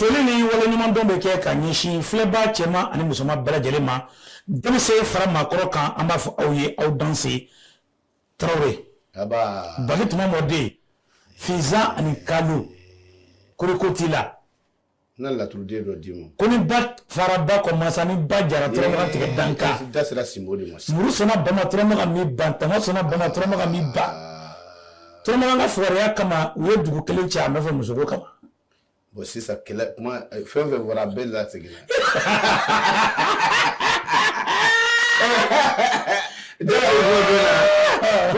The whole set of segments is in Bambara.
foli ni waleɲumandɔn bɛ kɛ ka ɲɛsin filɛbaa cɛman ani musoman bɛɛ lajɛlen ma denmisɛn fara maakɔrɔ kan an b'a fɔ aw ye aw danse tarawele baki tuma mɔden finzan ani kalu koroko t'i la na laturuden dɔ d'i ma ko ni ba fara ba kɔ masa ni ba jara turamaga tigɛ danka da sera simbo de ma muru sɔnna bama turamaga mi ban tama sɔnna bama turamaga mi ba turamaga ka fugariya kama u ye dugu kelen cɛ a nɔfɛ musoko kama bon sisan fɛn fɛn fɔra bɛɛ lasegin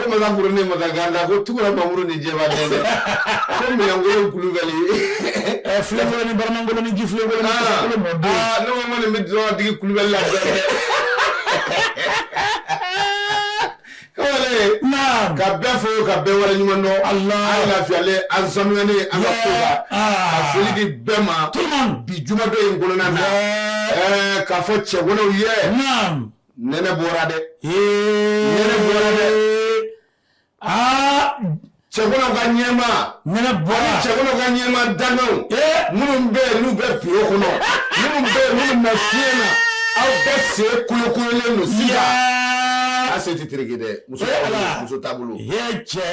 makan ni makan gada ko tu mamuru ni jɛ dɛ kulubali fula ni baramangolo ni ji fi ne bɛ jɔn tigi kulubali la ka bɛɛ fo ka bɛɛ waleɲumandɔn an lafiyalen an saniyalen an ka so la a foli di bɛɛ ma bi jumadon in kɔnɔna na ɛɛ k'a fɔ cɛganaw ye nɛnɛ bɔra dɛ nɛnɛ bɔra dɛ aa cɛganaw ka ɲɛma nɛnɛ bɔra cɛganaw ka ɲɛma danganw minnu bɛ yen n'u bɛ biro kɔnɔ minnu bɛ yen minnu na fiɲɛ na aw bɛɛ se kolokololen don sisan a se tɛ tereke dɛ muso muso taabolo cɛ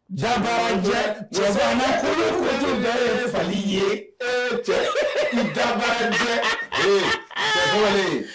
dabarajɛ cɛgana kolokolo bɛɛ ye fali ye cɛ dabarajɛ cɛ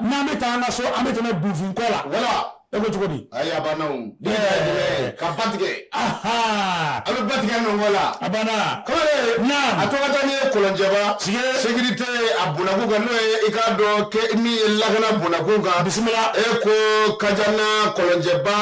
n'an bɛ taa an ka so an bɛ tɛmɛ bufin kɔ la e ko cogo di ka ba tigɛ a bɛ ba tigɛ nɔnkɔ la a banna a tɔgɔ taa ni ye kɔlɔnjɛba sekirite a bonnakun kan n'o ye i k'a dɔn kɛ min ye lakana bonnakun kan bisimila e ko kajana kɔlɔnjɛba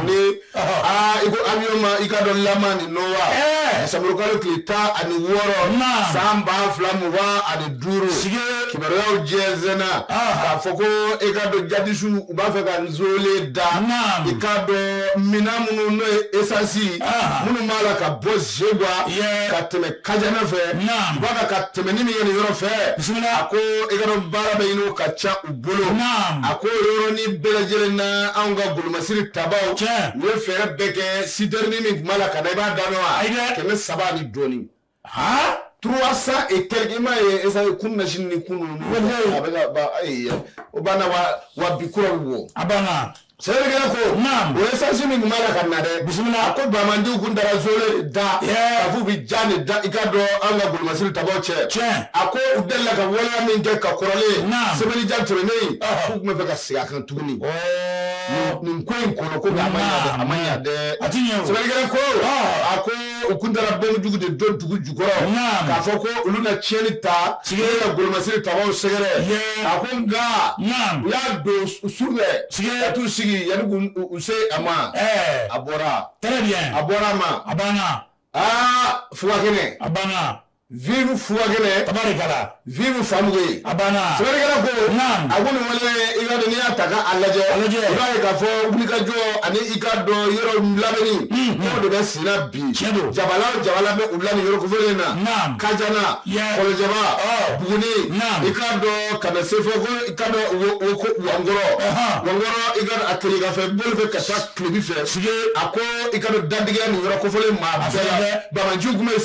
ni aa i ko avion ma i k'a dɔn lama ni nowa Ɛɛ. desanburukalo tile tan ani wɔɔrɔ Naam. san ba fila mugan ani duuru Sige. kibaruyaw jɛnsɛnna Ah. k'a fɔ ko i k'a dɔn jadisiw u b'a fɛ ka nzole da Naam. i k'a dɔn minan minnu n'o ye esansi Ah. minnu b'a la ka bɔ zegwa Yeah. ka tɛmɛ kajana fɛ Naam. u b'a fɛ ka tɛmɛ ni min ye nin yɔrɔ fɛ Bisimila. a ko i k'a dɔn baara bɛ ɲini o ka ca u bolo a ko yɔrɔnin bɛɛ lajɛlen na anw ka golomasiri tabaaw u ye fɛɛrɛ bɛɛ kɛ sitɛrinin min tun b'a la ka na i b'a da mɛn wa kɛmɛ saba ni dɔɔnin trois cent et quelque i m'a ye esa ye kununasini ni kunun a bɛ ka ban ayi o banna wa wa bi kura bɛ bɔ a banna Sɛbɛnnikɛla ko o ye sansi min tun b'a la ka na dɛ a ko banbaganciw kun taara zole da k'a fɔ u bɛ jan in da i k'a dɔn an ka golomasiri tabaw cɛ a ko u delila ka waleya min kɛ ka kɔrɔlen sɛbɛn ja tɛmɛnen k'u tun b'a fɛ ka segin a kan tuguni nin ko in kɔnɔ ko a ma ɲa dɛ sɛbɛnnikɛla ko a ko u kun taara fɛn jugu de don dugu jukɔrɔ k'a fɔ ko olu na tiɲɛni ta an ka golomasiri tabaw sɛgɛrɛ a ko nka u y'a don su fɛ ka t'u sigi yanni k'u se a ma a bɔra a bɔra a ma a banna aa fugakɛnɛ a banna vive fugakɛnɛ tabarikala vive famuge a banna sɛbɛnnikɛla ko naam a ko nin wale i k'a dɔn n'i y'a ta k'a lajɛ a lajɛ i b'a ye k'a fɔ wulikajɔ ani i k'a dɔn yɔrɔ labɛnni n'o de bɛ senna bi tiɲɛ don jabala o jabala bɛ u la nin yɔrɔ kofɔlen na naam Kajana Kɔlɔnjɛba Buguni naam i k'a dɔn ka na se fo ko i k'a dɔn wo ko wankɔrɔ wankɔrɔ i ka a tileganfɛ bolo fɛ ka taa tilebi fɛ a ko i k'a dɔn dantigɛ nin yɔrɔ kofɔlen maa bɛɛ la banbaganciw tun bɛ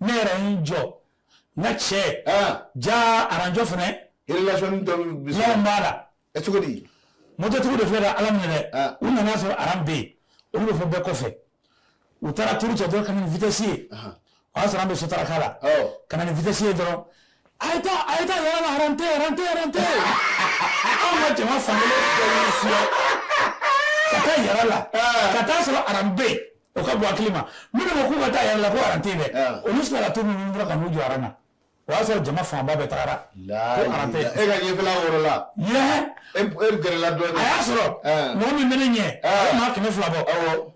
ne yɛrɛ n jɔ n cɛ ja aran jɔ fana b'a la e cogo mɔtotigiw de filɛ ka a lamini u nana a sɔrɔ aran bɛ yen olu bɛ fo bɛɛ kɔfɛ u taara tuuru kɛ dɔrɔn ka na ni vitesse ye o y'a sɔrɔ an bɛ sotaraka la ka na ni vitesse ye dɔrɔn a ye taa a ye taa yɔrɔ la aran tɛ aran tɛ aran tɛ anw ka jama fankelen bɛɛ y'u fiyɛ ka taa yɔrɔ la ka taa sɔrɔ aran bɛ yen o ka bɔ hakilima minnu ko k'u ka taa yɔrɔ la ko aran tɛ yen dɛ olu sɔrɔla ka to ninnu dɔrɔn ka n'u jɔ aran na o y'a sɔrɔ jama fanba bɛɛ tagara e ka ɲɛfɛla yɔrɔ la e gɛrɛla dɔɔni a y'a sɔrɔ mɔgɔ min bɛ ne ɲɛ o bɛ maa kɛmɛ fila bɔ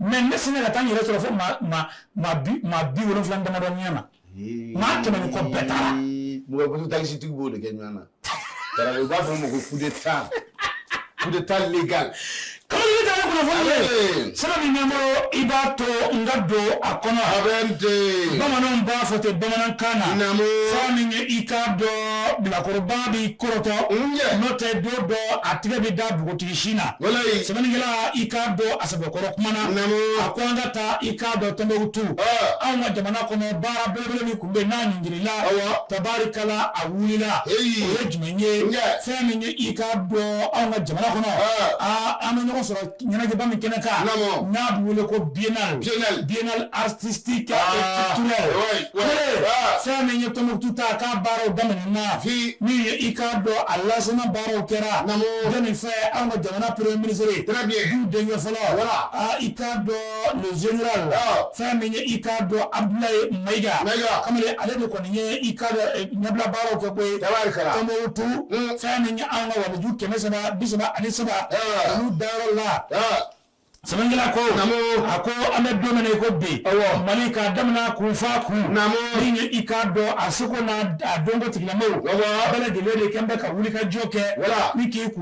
mais ne sinna ka taa n yɛrɛ sɔrɔ fo maa bi wolonwula damadɔ ɲɛ na maa kɛmɛ ni kɔ bɛɛ taara mɔto takisitigi b'o de kɛ ɲɔgɔn na Tarawele, u b'a fɔ o ma ko coup d'Etat, coup d'Etat légal kalali ta ye kunnafoni ye Abe. sira min bɛ n bolo i b'a to n ka don a kɔnɔ Abɛnde, bamananw b'a fɔ ten bamanankan na Naamu. fɛn min ye i k'a dɔn bilakoroba b'i kɔrɔtɔ Nje. n'o tɛ don dɔ a tigɛ bɛ da npogotigi sin na walayi, sɛbɛnnikɛla i k'a dɔn a sɛbɛkɔrɔ kumana Naamu. a ko an ka taa i k'a dɔn Tɔnbukutu Ah. anw ka jamana kɔnɔ baara belebele min tun bɛ yen n'a ɲingirila tabarikala a wulila o ye jumɛn ye fɛn min ye i k'a dɔn anw ka jamana kɔnɔ an bɛ ɲɔgɔn sɔrɔ ɲɛnajɛba min kɛnɛ kan n'a bɛ wele ko biennale biennale artistique et culturelle fɛn min ye Tɔnbukutu ta k'a baaraw daminɛna min i k'a dɔn a lancement baaraw kɛra jɔni fɛ an ka jamana premier ministre du denkɛ fɔlɔ i ka le général ah. fɛn min ye i k'a dɔn Abdoulaye Mayiga kamalen ale de kɔni ye i k'a dɔn eh, ɲɛbila baaraw kɛ koyi Tombouctou mm. fɛn min ye an ka waliju kɛmɛ saba bi saba ani saba ah. olu dayɔrɔ la ah. sɛbɛnkɛla ko a ko an bɛ don min na i ko bi mali k'a daminɛ kun f'a kun min ye i k'a dɔn a seko n'a dɔnko tigilamɔgɔw bɛɛ lajɛlen de kɛn bɛ ka wulikajɔ kɛ ni k'i kun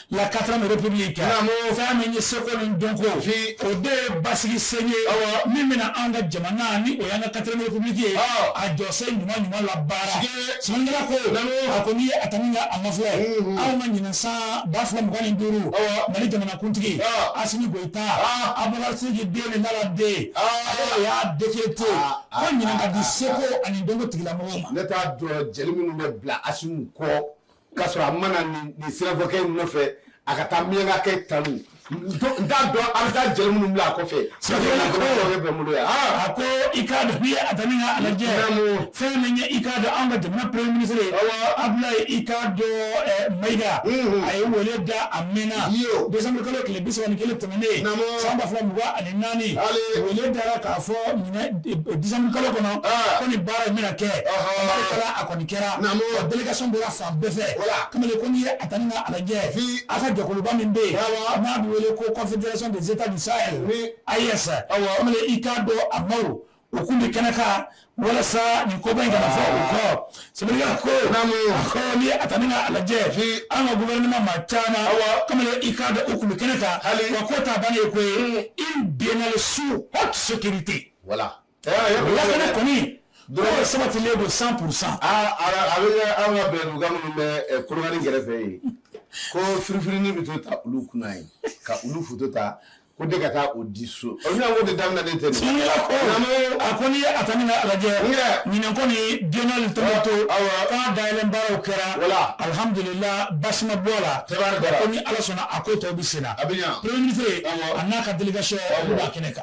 la quatrième république fɛn min ye seko ni dɔnko o de ye basigi sen ye min bɛna an ka jamana ni o y'an ka quatrième république ye a jɔsen ɲuman ɲuman la baara sɛbɛnkɛla ko a ko n'i ye a ta ni ka a mafilɛ anw ka ɲinan san ba fila mugan ni duuru mali jamanakuntigi asimi goyita a bakarijansi den ni nana den ale y'a décrété ko ɲinan ka di seko ani dɔnko tigilamɔgɔ ma ne t'a dɔn jeli minnu bɛ bila asimi kɔ k'a sɔrɔ a ma na nin sirafɔkɛ in nɔfɛ a ka taa miyanka kɛ tanu n t'a dɔn a bɛ taa jeli minnu bila a kɔfɛ sirafɔkɛ ko sirafɔkɛ bɛ n bolo yan a ko i k'a dɔn n'i ye a ta ni ka a lajɛ fɛn min ye i k'a dɔn an ka jamana premier ministre ye Abdoulaye i k'a dɔn Mayiga a ye wele da a mɛnna décembre kalo tile bi saba ni kelen tɛmɛnen san ba fila mugan ani naani wele dara k'a fɔ décembre kalo kɔnɔ ko nin baara in bɛna kɛ A kɔni kɛra wa délégation bɔra fan bɛɛ fɛ kamalen ko n'i ye a ta ni ka a lajɛ an ka jɛkuluba min bɛ yen n'a bɛ wele ko confédération des Etats du Sahel AES kamalen i k'a dɔn a maaw u tun bɛ kɛnɛ kan walasa nin koba in kana fɔ u kɔ sɛbɛnnikɛla ko a ko n'i ye a ta ni ka a lajɛ an ka gouvernement maa caman kamalen i k'a dɔn u tun bɛ kɛnɛ kan wa ko t'a bannen ye ko ye une biennale sous haute sécurité. lakana kɔni tun sabatilen don cent pour cent a bɛ kɛ anw ka bɛnduga minnu bɛ kolokani kɛrɛfɛ yen ko firifirinin bɛ to ta olu kunna yen ka olu foto ta ko de ka taa o di so o bɛna ko de daminɛ ne tɛ nin ye a ko n'i ye a ta ni ka a lajɛ ɲinɛn kɔni biennale Tombouctou ko a dayɛlɛn baaraw kɛra alihamudulila basi ma bɔ a la ko ni ala sɔnna a ko tɔw bɛ sen na premier ministre a n'a ka délégation olu b'a kɛnɛ kan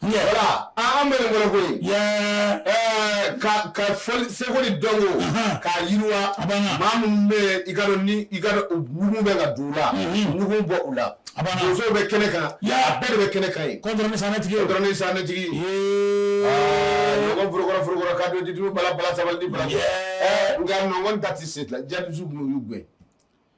wala an bɛ wɛrɛ ko ye ka ka seko ni dɔnko k'a yiriwa maa minnu bɛ i ka ni i ka nugu bɛ ka dugu la nugu bɔ u la donso bɛ kɛnɛ kan a bɛɛ de bɛ kɛnɛ kan ye kɔntɔrɔn sanɛtigi kɔntɔrɔn sanɛtigi forokɔrɔ ka don ditu bala bala sabali bala nka nɔn ta tɛ se ja dusu tun y'u gɛn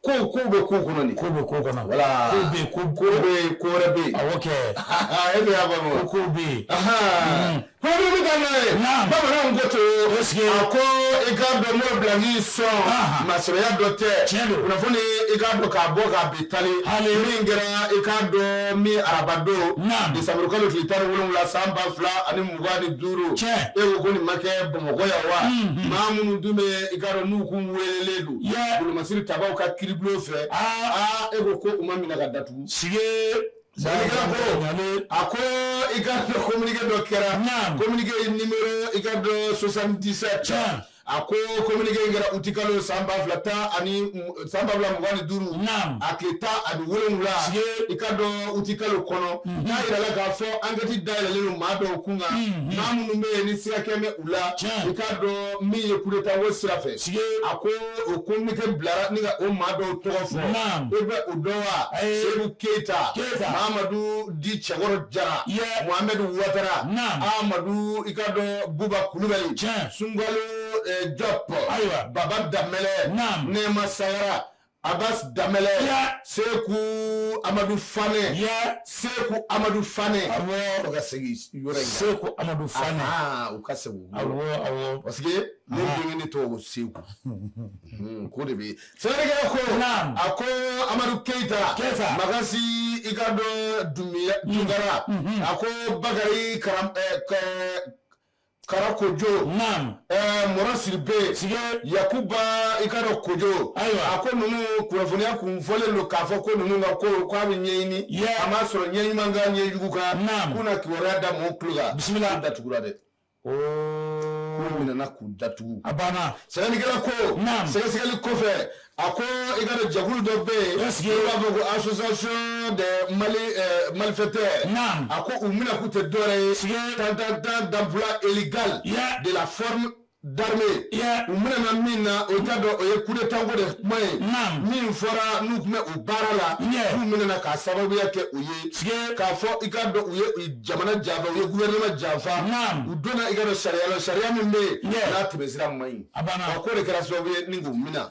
ko ko bɛ ko kɔnɔ nin ko bɛ ko kɔnɔ wala ko bɛ ko ko bɛ ko wɛrɛ bɛ yen awɔ kɛ e bɛ y'a faamu ko ko bɛ yen pɔnpɔn bɛ ka n'a ye bamananw ko to a ko i k'a dɔn n'o bila n'i sɔn masɔrɔya dɔ tɛ tiɲɛ don kunnafoni i k'a dɔn k'a bɔ k'a bi tali min kɛra i k'a dɔn min araba don desanburu kalo tile tan ni wolonwula san ba fila ani mugan ni duuru tiɲɛ e ko ko nin ma kɛ bamakɔ yan wa maa minnu dun bɛ i k'a dɔn n'u kun welelen don masiri tabaw ka kiri bulon fɛ e ko ko u ma minɛ ka datugu sige a ko i ka communiqué dɔ kɛra communiqué numéro i ka dɔn soixante-dix-sept a ko communiqué in kɛra uti kalo san ba fila tan ani san ba fila mugan ni duuru a tile tan ani wolonwula i ka dɔn uti kalo kɔnɔ mhm. n'a yirala k'a fɔ enquête dayɛlɛlen maa dɔw kunkan mhm. maa minnu bɛ yen ni siga kɛlen bɛ u la i ka dɔn min ye coup d'Etat ko sira fɛ, sike, a ko o communiqué bilara ni ka o maa dɔw tɔgɔ fɔ, naamu, e bɛ o dɔn wa? Ayi, Seyibu Keyita, Keyita, Mamadu dit Cɛkɔrɔ Jara, ye, Mohamed Watara, naamu, Amadu i ka dɔn Buba Kulubali, tiɲɛ, Sunkalo Jɔp, ayiwa, Baba Danmɛlɛ, naamu, Nɛma Sagara. Abbas Damele, yeah. Seku Amadou Fane, yeah. Seku Amadou Fane. Awɔ, o ka segin yɔrɔ in Seku Amadou Fane. Ah, o ka segin. Awɔ, awɔ. Parce que ne ah. denkɛ ne tɔgɔ ko Seku. Hmm, ko de bɛ. Sɛbɛnnikɛla ko. Naam. A ko Amadou Keita. Keita. Magasi i ka dɔn Tunkara. Hmm, hmm, a ko Bakari Kara eh, Karakojo naam ɛɛ Mɔrɔ Sidibe sige yakuba i ka dɔn kojo Ayiwa. a ko ninnu kunnafoniya kun fɔlen don k'a fɔ ko ninnu ka ko k'a bɛ ɲɛɲini Yɛ. a m'a sɔrɔ ɲɛ ɲuman kan ɲɛ jugu kan Naam. k'u na kibaruya da mɔgɔw tulo kan Bisimila. K'u datugura dɛ ooo k'u minɛna k'u datugu a banna sɛbɛnnikɛla ko Naam. sɛgɛsɛgɛli kɔfɛ a ko i ka dɔn jɛkulu dɔ bɛ yen Est-ce que- n'u b'a fɔ ko association des mali eh, malfaiteurs Naam. a ko u minɛkun tɛ dɔwɛrɛ ye Siga- tan tan tan d'emploi illégal Yeah. de la forme d'armée Yeah. u minɛna min na o t'a dɔn o ye coup d'état ko de kuma ye Naam. min fɔra n'u tun bɛ u baara la Yeah. n'u minɛna k'a sababuya kɛ o ye Siga- k'a fɔ i k'a dɔn u ye u ye jamana janfa u ye gouvernement janfa Naam. u donna i ka dɔn sariya la sariya min bɛ yen Yeah. n'a tɛmɛ sira man ɲi A banna k'o de kɛra sababu ye ni k'u minɛ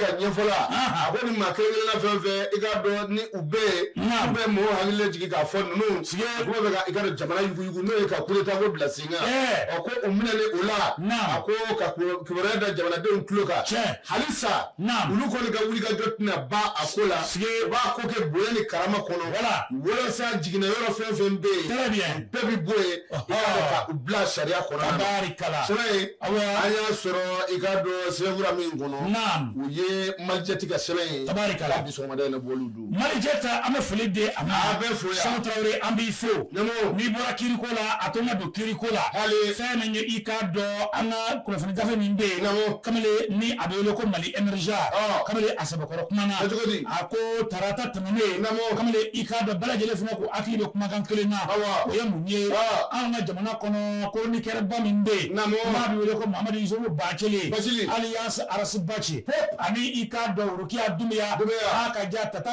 ka ɲɛfɔ la a ko ni maa kelenna fɛn fɛn i ka dɔn ni u bɛ yen bɛ mɔgɔw hakili jigin k'a fɔ ninnu kun bɛ ka i ka dɔn jamana yugu n'o ye ka coup d'état ko bila sen kan a ko u minɛna o la a ko ka kibaruya da jamanadenw tulo kan hali sa olu kɔni ka wulikajɔ tɛna ban a ko la u b'a ko kɛ bonya ni karama kɔnɔ wala walasa jiginna yɔrɔ fɛn fɛn bɛ yen bɛɛ bɛ bɔ yen i k'a dɔn ka u bila sariya kɔnɔna na tabaarikala sɛbɛn ye Awɔ. an y'a sɔrɔ i k'a dɔn sɛbɛnfura min kɔnɔ naam o ye malijɛti ka sɛbɛn ye Tabaarikala. bi sɔgɔmada in na bɔlen don malijɛti an bɛ foli di a ma A bɛ fo yan. Sanu Tarawele an b'i fo Ɲɛmɔgɔ. n'i bɔra kiiriko la a to n ka don kiiriko la Hali. fɛn min ye i k'a dɔn an ka kunnafoni gafe min bɛ yen Ɲɛmɔgɔ. kamalen ni a bɛ wele ko Mali Emergence Ɔ. kamalen a sɛbɛkɔrɔ kuma na Kɛ cogo di? a ko tarata kamalen i k'a dɔn bɛɛ lajɛlen fana kun hakili bɛ kumakan kelen na o ye mun ye an ka jamana kɔnɔ chroniqueur ba min bɛ yen n'a bɛ wele ko Mohamed Youssouf Bathily alias Ras Bath ani i k'a dɔn Worokiya Dumbuya a ka ja Tata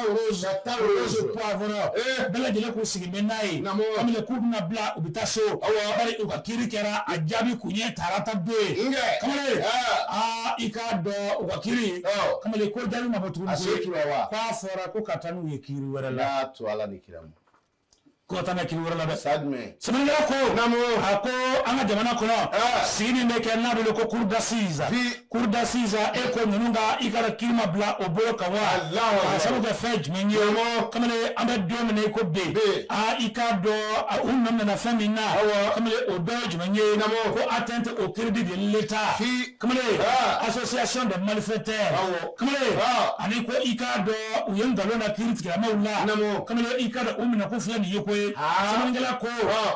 Poivron bɛɛ lajɛlen kun sigilen bɛ n'a ye kamalen k'u bɛna bila u bɛ taa so bari u ka kiiri kɛra a jaabi kun ye tarata don ye kamalen aa i k'a dɔn u ka kiiri kamalen ko jaabi ma a se tura wa k'a fɔra ko ka taa n'u ye kiiri wɛrɛ la n'a to ala ni kira ma ko ka taa n'a ye kiiri wɛrɛ la dɛ sa jumɛn sɛbɛnnikɛla ko a ko an ka jamana kɔnɔ Ah. sigi min bɛ kɛ n'a bɛ wele ko cour d'assises Bi- cour d'assises e ko ninnu ka i ka kiiri ma bila o bolo kan wa Alahu Akbar. k'a sabu kɛ fɛn jumɛn ye Ɲɛmɔgɔ. kamalen an bɛ don min na i ko bi Bi. aa i k'a dɔn a, u nɔ minɛ fɛn min na Awɔ. kamalen o dɔ ye jumɛn ye Naamu. ko atteinte au crédit de l'État Fi- kamalen association des malfaiteurs kamalen ani ko i k'a dɔn u ye nkalon da kiiritigɛlamaw la kamalen i k'a dɔn u minɛkun filɛ nin ye koyi sɛbɛnnikɛla ko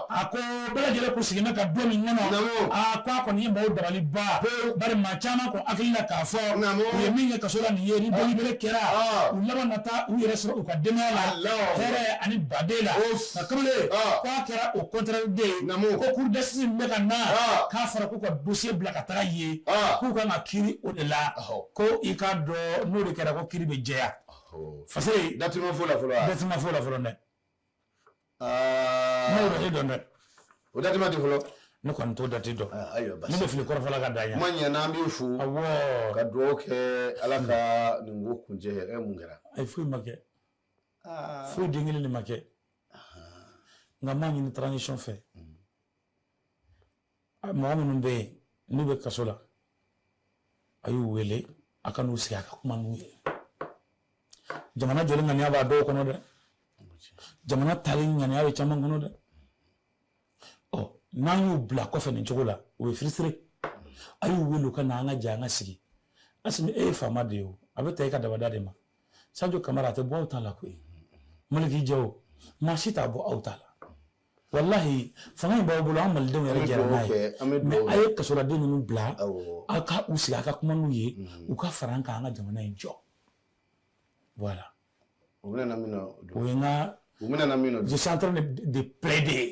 a ko bɛɛ lajɛlen kun sigilen bɛ ka don min kɔnɔ a ko a kɔni ye maaw dabali ba bari maa caman kun hakili la k'a fɔ u ye min kɛ kaso la nin ye ni délibéré kɛra u laban na taa u yɛrɛ sɔrɔ u ka denbaya la hɛrɛ ani baden la nka kamalen k'a kɛra o contraire de ye ko cour d'assises min bɛ ka na k'a fɔra ko k'u ka dossier bila ka taga yen k'u ka kan ka kiiri o de la ko i k'a dɔn n'o de kɛra ko kiiri bɛ jɛya fa dat fɔlɔ la fɔlɔ la fɔlɔ dɛ bɛ dɔn dɛ o da fɔlɔ ne kɔni t'o dati dɔn ne bɛ fili kɔrɔfɔla ka da kuma ɲɛna an b'i fo ka dugawu kɛ ala ka nin ko kuncɛ e mun kɛra ayi foyi ma kɛ foyi den kelen de ma kɛ nka n b'a ɲini transition fɛ mɔgɔ minnu bɛ yen n'u bɛ kaso la a y'u wele a ka n'u sigi a ka kuma n'u ye jamana jɔli ŋaniya b'a dɔw kɔnɔ dɛ jamana tali ŋaniya bɛ caman kɔnɔ dɛ ɔ n'an y'u bila kɔfɛ nin cogo la o ye firisiri a y'u wele u ka na an ka jɛ an ka sigi Asimi e ye faama de ye o a bɛ taa i ka dabada de ma Sajo Kamara a tɛ bɔ aw ta la koyi Maliki Jaw maa si t'a bɔ aw ta la wallahi fanga in b'aw bolo an malidenw yɛrɛ jɛra n'a ye mais a ye kasoladen ninnu bila aw ka u sigi a ka kuma n'u ye u ka fara an kan an ka jamana in jɔ voilà u bɛna min na o ye n ka je suis en train de plaider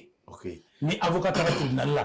ni avocat taara tribunal la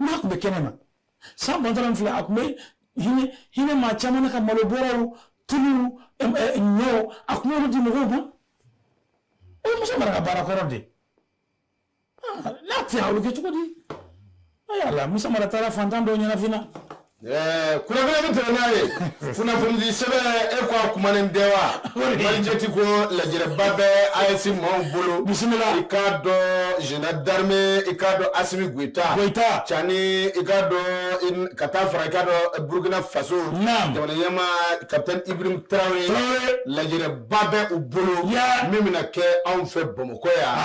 n'a tun bɛ kɛnɛ ma san bantɔla in filɛ a tun bɛ hinɛ maa caman na ka malo bɔrɔw tulu ɲɔ a tun b'olu di mɔgɔw ma o ye musa mara ka baara kɔrɔ de n'a tɛ a bɛ kɛ cogo di ayi ala musa mara taara fantan dɔw ɲɛnafin na Eh, kunnafoni bɛ tɛmɛ n'a ye kunnafonidisɛbɛn e ko a kumanen tɛ wa malijɛti ko lajɛrɛba bɛ AES maaw bolo bisimila i k'a dɔn général d'armée i k'a dɔn asimi goyita cani i k'a dɔn ka taa fara i k'a dɔn burukina faso jamana ɲɛmaa kapitɛni ibrahim tarawele lajɛrɛba bɛ u bolo min bɛna kɛ anw fɛ bamakɔ yan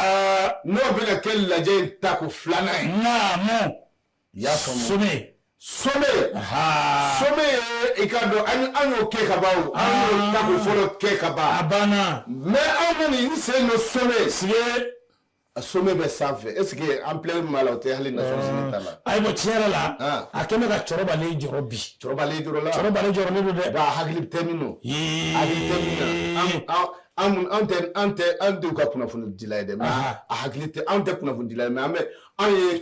n'o bɛna kɛ lajɛ in tako filanan ye sommet sommet sommet i k'a dɔn an y'o kɛ ka ban an y'o tako fɔlɔ kɛ ka ban a banna mais aw bɛ nin sen don sommet sigi a sommet bɛ sanfɛ est ce que ampleur min b'a la o tɛ hali Nations Unies ta la ayiwa tiɲɛ yɛrɛ la a kɛlen bɛ ka cɛkɔrɔbalen jɔrɔ bi cɛkɔrɔbalen jɔrɔla cɛkɔrɔbalen jɔrɔlen don dɛ nka hakili tɛ min don hakili tɛ min na an an tɛ an tɛ an denw ka kunnafonidila ye dɛ mais a hakili tɛ an tɛ kunnafonidila ye mais an bɛ an ye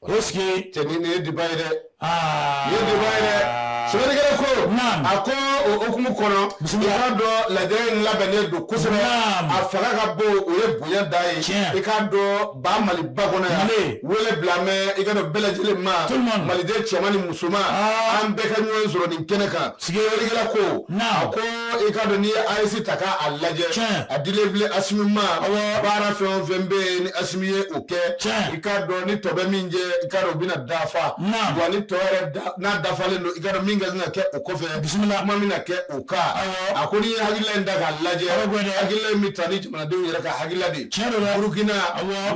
o sigi cɛnin nin ye diba ye dɛ aa nin ye diba ye dɛ sɛbɛnnikɛla ko a ko o hukumu kɔnɔ i k'a dɔn lajɛrɛ in labɛnnen don kosɛbɛ a fanga ka bon o ye bonya da ye i k'a dɔn ba maliba kɔnɔ yan wele bilalen bɛ i k'a dɔn bɛɛ lajɛlen ma maliden cɛman ni musoman k'an bɛɛ ka ɲɔgɔn sɔrɔ nin kɛnɛ kan sɛbɛnnikɛla ko a ko i k'a dɔn n'i ye AES ta k'a lajɛ a dilen filɛ asimi ma baara fɛn o fɛn bɛ yen ni asimi ye o kɛ i k'a dɔn ni tɔ bɛ min jɛ i k'a dɔn o bɛna dafa wa ni tɔ yɛrɛ n'a dafalen don i k'a dɔn min ka kan ka kɛ o kɔfɛ bisimila kuma bɛna kɛ o kan a ko n'i ye hakilila in ta k'a lajɛ hakilila in bɛ taa ni jamanadenw yɛrɛ ka hakilila de ye burukina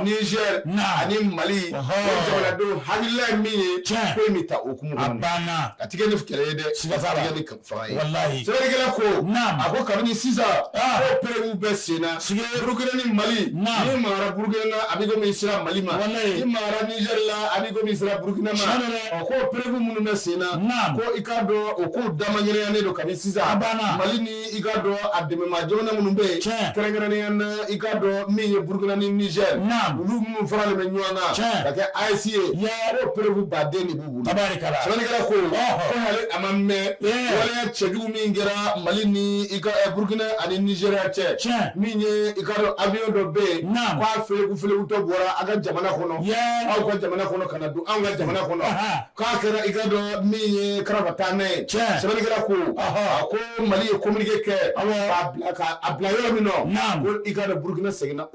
nizɛr ani mali o jamanadenw hakilila ye min ye ko in bɛ taa o hukumu kɔnɔ a tɛ kɛ ni kɛlɛ ye dɛ siga t'a la wallahi sɛbɛnnikɛla ko naam a ko kabini sisan ah. ko perewu bɛ senna sigi burukina ni mali naam n'i magara burukina na a bɛ komi i sera mali ma wallahi n'i magara niger la a bɛ komi i sera burukina ma ɔ ko perewu minnu bɛ senna naam ko i k'a dɔn o ko damanɲɛnɛyanen don kabini sisan a banna mali ni i k'a dɔn a dɛmɛbaa jamana minnu bɛ yen tiɲɛ kɛrɛnkɛrɛnnenya na i k'a dɔn min ye burukina ni niger naam olu minnu faralen bɛ ɲɔgɔn kan tiɲɛ ka kɛ AES ye ko perewu baden de b'u kɛla ko a ma mɛn waleya cɛjugu min kɛra mali ni i ka burukina ani nizeriya cɛ min ye i ka dɔn avion dɔ bɛ yen k'a felekutɔ bɔra a ka jamana kɔnɔ aw ka jamana kɔnɔ ka don anw ka jamana kɔnɔ k'a kɛra i ka dɔn min ye kara taa n ye sɛbɛnnikɛla ko a ko mali ye communiqué kɛ k'a bila yɔrɔ min ko i ka burukina seginna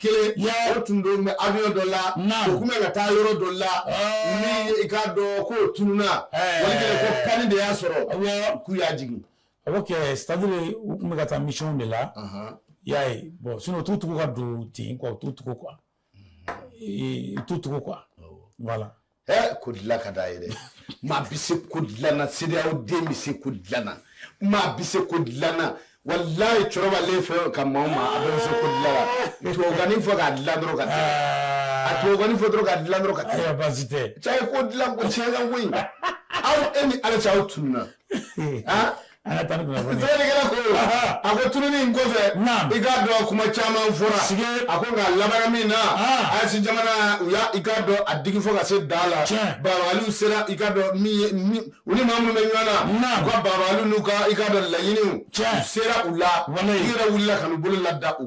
kelen o tun don bɛ avion dɔ la o tun bɛ ka taa yɔrɔ dɔ la ni i k'a dɔn k'o tununa walikɛlɛ ko panne de y'a sɔrɔ k'u y'a jigin ok c'est à dire u tun bɛ ka taa mission de la i y'a ye bon sinon u t'u tugu ka don ten quoi u t'u tugu quoi u t'u tugu quoi voilà ko dilan ka d'a ye dɛ maa bɛ se ko dilan na CEDEAO den bɛ se ko dilan na maa bɛ se ko dilan na walayi cɛkɔrɔba ale fɛ ka maa o maa a bɛ se ko dilan na tubabukanni fɔ k'a dilan dɔrɔn ka taa a tubabukanni fɔ dɔrɔn k'a dilan dɔrɔn ka taa baasi tɛ cɛ ko dilan ko tiɲɛ ka ko in aw e ni ala cɛ aw tununa An ka taa ni kunnafoni ye. Sɛbɛnnikɛla ko, Ahan. a ko tununi in kɔfɛ, Naam. i k'a dɔn kuma caman fɔra. Sike. A ko nka a labanna min na, Aa. AES jamana u y'a i k'a dɔn a digi fo ka se dan la. Tiɲɛ. Dabaliw sera i k'a dɔn min ye min u ni maa minnu bɛ ɲɔgɔn na. Naam. U ka dabaliw n'u ka i k'a dɔn laɲiniw. Tiɲɛ. U sera u la. Walayi. U yɛrɛ wulila ka n'u bolo lada u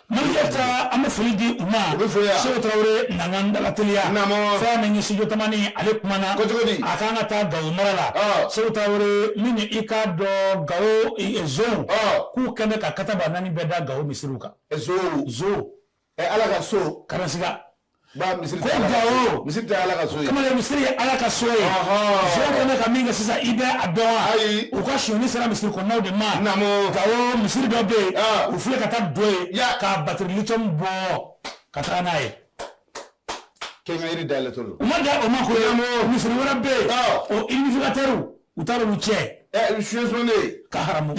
an bɛ foli di u ma seku tarawele nan dalateliya fɛn min studio tamani ale kumana a k'an ka taa gawo mara la seku tarawele min i ka dɔn gawo zonw k'u kɛlen ka kataba naani bɛɛ da gawo misiriw kan ala ka so kala ba misiri ko gawo misiri tɛ ala ka so ye kamalen misiri ye ala ka so ye zonkɛ bɛ ka min kɛ sisan i bɛ a dɔn wa ayi u ka sonyani sera misiri kɔnɔnaw de ma naamu gawo misiri dɔ bɛ yen u filɛ ka taa don yen ka batiri lithium bɔ ka taa n'a ye kɛnkɛyiri dayɛlɛtɔ don u ma dan o ma ko ye misiri wɛrɛ bɛ yen o amplificateurs u taara olu cɛ suɲɛsɔnnen ka haramu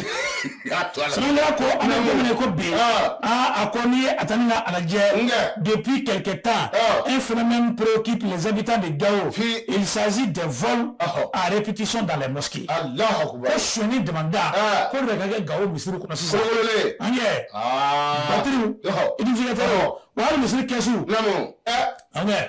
sinankunya ko an bɛ don min na ko bi a ko n'i ye a ta n'i k'a lajɛ depuis quelque temps un phénomène préoccupe les habitants de Gao il s'agit des vols à répétition dans les mosquées ko sonyani damanda ko de ka kɛ Gao misiri kɔnɔ sisan an yɛ batiriw amplificateur wa hali misiri kɛsu an yɛ